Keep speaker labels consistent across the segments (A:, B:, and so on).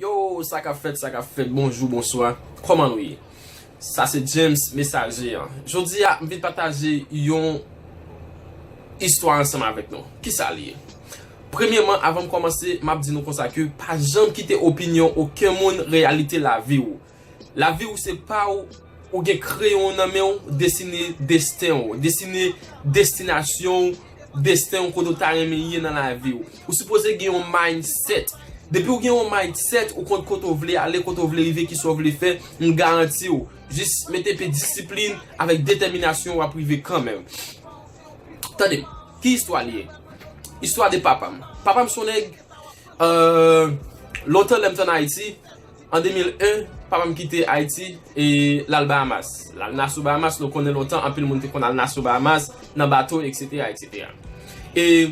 A: Yo sa kap fèt sa kap fèt bonjou bonswa kòman nou ye sa se James mesaje an jodi a m vin pataje yon istwa ansanm avèk nou kisa li ye premyeman avan m kòmanse map di nou konsa ke pa janm kite opinyon oken moun reyalite lavi ou. Lavi w se pa w, ou gen kreyon w nan men w, desine desten w, desine destinasyon w, desten w kote w ta renmen ye nan lavi w. Ou sipoze gen yon mindset. Depi w gen yon mindset, ou konn kote w vle ale, kote w vle rive, kisa w vle fè, m garanti w, jis mete pe disiplin avèk detèminasyon w ap rive kanmenm. Tande, ki istwa li ye? Istwa de papa m. Papa m se yon nèg, lontan lè m te an Ayiti, An 2001, papa m kite Ayiti e l al Bahamas. L al Nassau, Bahamas. Nou konnen lontan anpil moun te konn al Nassau, Bahamas nan bato eksetera eksetera. E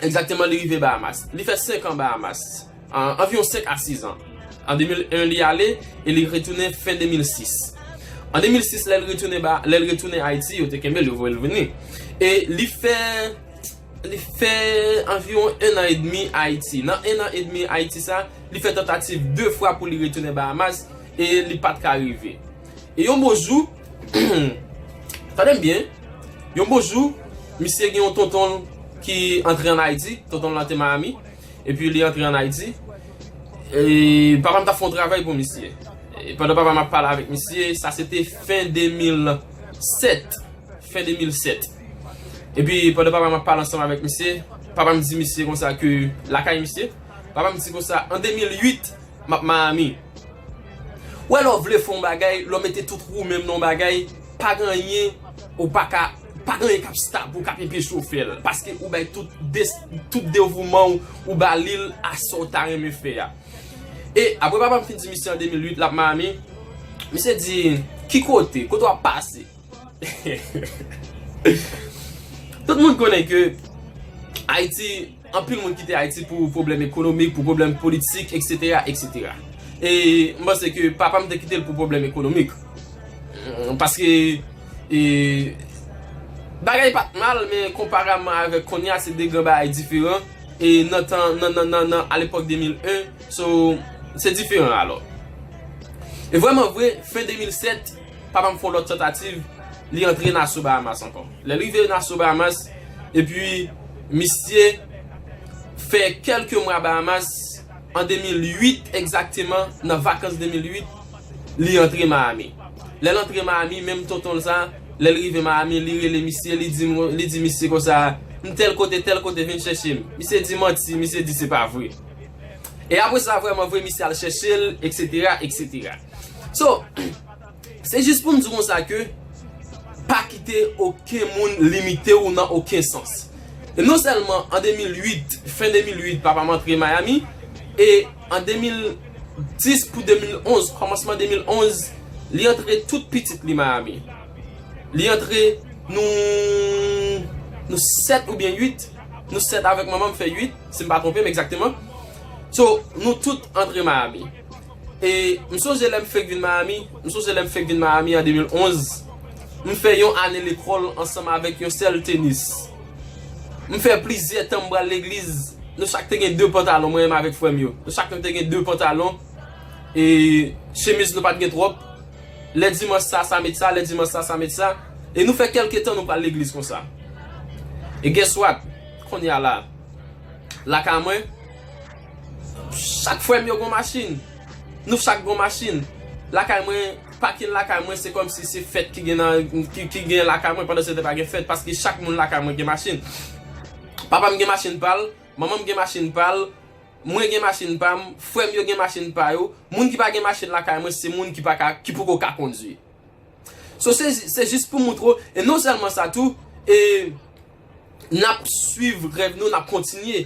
A: egzakteman li rive Bahamas. Li fè senkan Bahamas. Anviwon senk a siz an. An 2001 li ale e li retounen fen 2006. An 2006 lè l retounen ba, lè l retounen Ayiti, yo te kenbe l, yo voye l vini. E li fè, li fè anviwon ennan edmi Ayiti. Nan ennan edmi Ayiti sa a, Li fè tantativ 2 fwa pou li retounen Bahamas e li pat ka rive. E yon bon jou, tande m byen, yon bon jou, misye gen yon tonton l ki antre an Ayiti, tonton l lan te Miami, epi li antre an Ayiti, e papa m t ap fè yon travay pou misye. E pandan papa m ap pale avèk misye, sa se te fen 2007, fen 2007. Epi pandan papa m ap pale ansanm avèk misye, papa m di misye konsa ke lakay misye, Papa m di konsa an 2008 m ap Miami. Ou wè lè w vle fè yon bagay, lè w mete tout wou menm nan yon bagay, pa gen anyen ou pa ka, pa gen anyen k ap stop ou, k ap enpeche w fè l. Paske ou bay tout tout devouman w ou ba li l a sa w ta renmen fè a. E apre papa m fin di misye an 2008 l ap Miami, misye di, ki kote? Kote w ap pase? Tout moun konnen ke Ayiti Anpil moun kite Ayiti pou pwoblèm ekonomik, pou pwoblèm politik, eksetera, eksetera. E m panse ke papa m te kite l pou pwoblèm ekonomik. Paske e bagay pa t mal men konparamman avèk kounye a se de gran bagay diferan. E nan tan, nan, nan, nan, nan alepòk 2001 so se diferan alò. E vrèman vre fen 2007. Pa banm fon lòt tantativ li antre Nassau Bahamas ankò. Lè l rive Nassau Bahamas epi misye fè kèlke mwa Bahamas an 2008 egzakteman nan vakans 2008 li antre Miami. Lè l antre Miami menm tonton l sa lè l rive Miami li rele misye li di li di misye konsa m tèl kote tèl kote vin chèche m. Misye di manti misye di se pa vre. E apre sa vrèman vre misye al chèche l eksetera eksetera. So, se jis pou m di konsa ke pa kite oken moun limite w nan oken sans. E non sèlman an 2008, fen 2008 papa m antre Miami, e an 2010 pou 2011, kòmansman 2011, li antre tout pitit li Miami. Li antre nou, nou 7 oubyen 8, nou 7 avèk manman m fè 8, si m pa twonpe m egzakteman. So, nou tout antre Miami. E m sonje lè m fèk vin Miami, m sonje lè m fèk vin Miami an 2011, m fè yon ane lekòl ansanm avèk yon sèl tenis. M fè plizyè tan m pral legliz, nou chak te gen 2 pantalon, mwen menm avèk frè m yo. Nou chak nou te gen 2 pantalon, e chemiz nou pa t gen twòp. Lè dimanch sa, sa met sa, lè dimanch sa, sa met sa. E nou fè kèlke tan nou pral legliz konsa. E guess what? Kounye a la, lakay mwen. Chak frèm yo gon machin. Nou chak gon machin. Lakay mwen, pakin lakay mwen se kòmsi se fèt ki gen nan, ki gen lakay mwen pandan se te pa gen fèt paske chak moun lakay mwen gen machin. Papa m gen machin pa l, manman m gen machin pa l, mwen gen machin pa m, frè m yo gen machin pa yo. Moun ki pa gen machin lakay mwen se moun ki pa ka, ki poko ka kondwi. So se jis pou moutre w, e non sèlman sa tou, e n ap swiv rèv nou, n ap kontinye.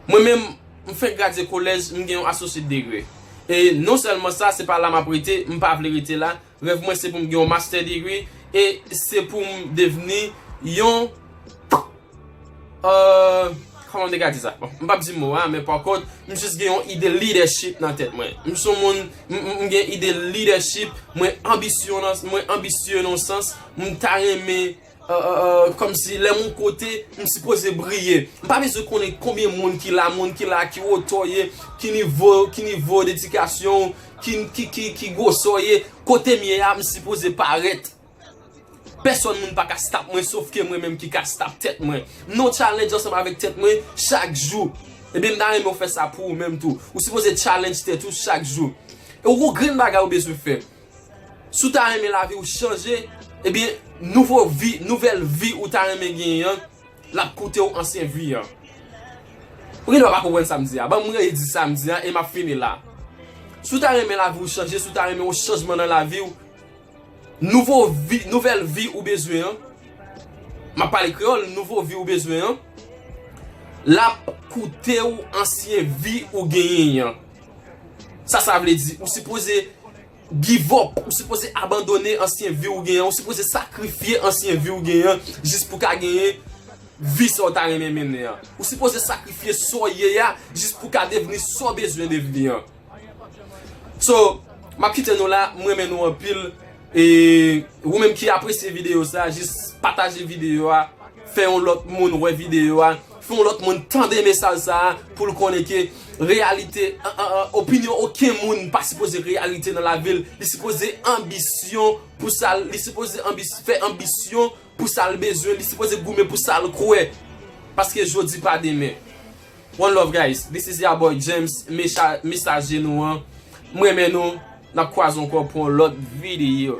A: Mwen menm, m fenk gradye kolèj, m gen yon Associate Degree. E non sèlman sa, se pa la m ap rete, m pa vle rete la. Rèv mwen se pou m gen yon Master Degree, e se pou m devni yon. Ahh Koman m te ka di sa? M pap di mo a men pa kont m jis gen yon ide lidèchip nan tèt mwen. M son moun m gen ide lidèchip, mwen anbisyon nan mwen anbisye nan yon sans, m ta renmen kòm si lè m yon kote m sipoze briye. M pa bezwen konnen konbyen moun ki la, moun ki la ki wotè w ye, ki nivo ki nivo dedikasyon ou, ki ki ki gwosè w ye, kote m ye a m sipoze parèt. Pèsòn moun pa ka stop mwen sof ke mwen menm ki ka stop tèt mwen. Non challenge ansanm avèk tèt mwen chak jou. Ebyen m ta renmen ou fè sa pou ou menm tou. Ou sipoze challenge tèt ou chak jou. Ou gon grenn bagay ou bezwen fè. Si w ta renmen lavi ou chanje, ebyen nouvo vi, nouvèl vi ou ta renmen genyen an, l ap koute ou ansyen vi an. Ou gendwa pa konprann sa m di a. Ban m redi sa m di a e m ap fini la. Si w ta renmen lavi ou chanje, si w ta renmen yon chanjman nan lavi ou. Nouvo vi, nouvèl vi ou bezwen an, m ap pale kreyòl, nouvo vi ou bezwen an, l ap koute ou ansyen vi ou genyen an. Sa sa vle di? Ou sipoze give up, ou sipoze abandone ansyen vi ou genyen an, ou sipoze sakrifye ansyen vi ou genyen an jis pou w ka genyen vi sa ou ta renmen mennen an. Ou sipoze sakrifye sa w ye a jis pou w ka devni sa w bezwen devni an. So, m ap kite nou la, m renmen nou anpil. E, ou menm ki apresye videyo sa, jis pataje videyo a, fè yon lòt moun wè videyo a, fè yon lòt moun tande mesaj sa a, pou l konnen ke reyalite, opinyon oken moun pa sipoze reyalite nan lavi l, li sipoze anbisyon pou sa l, li sipoze fè anbisyon pou sa l bezwen, li sipoze goumen pou sa l kwè. Paske jodi pa demen. One love guys this is ya boy James mecha mesaje nou an m renmen nou nap kwaze ankò pou yon lòt video.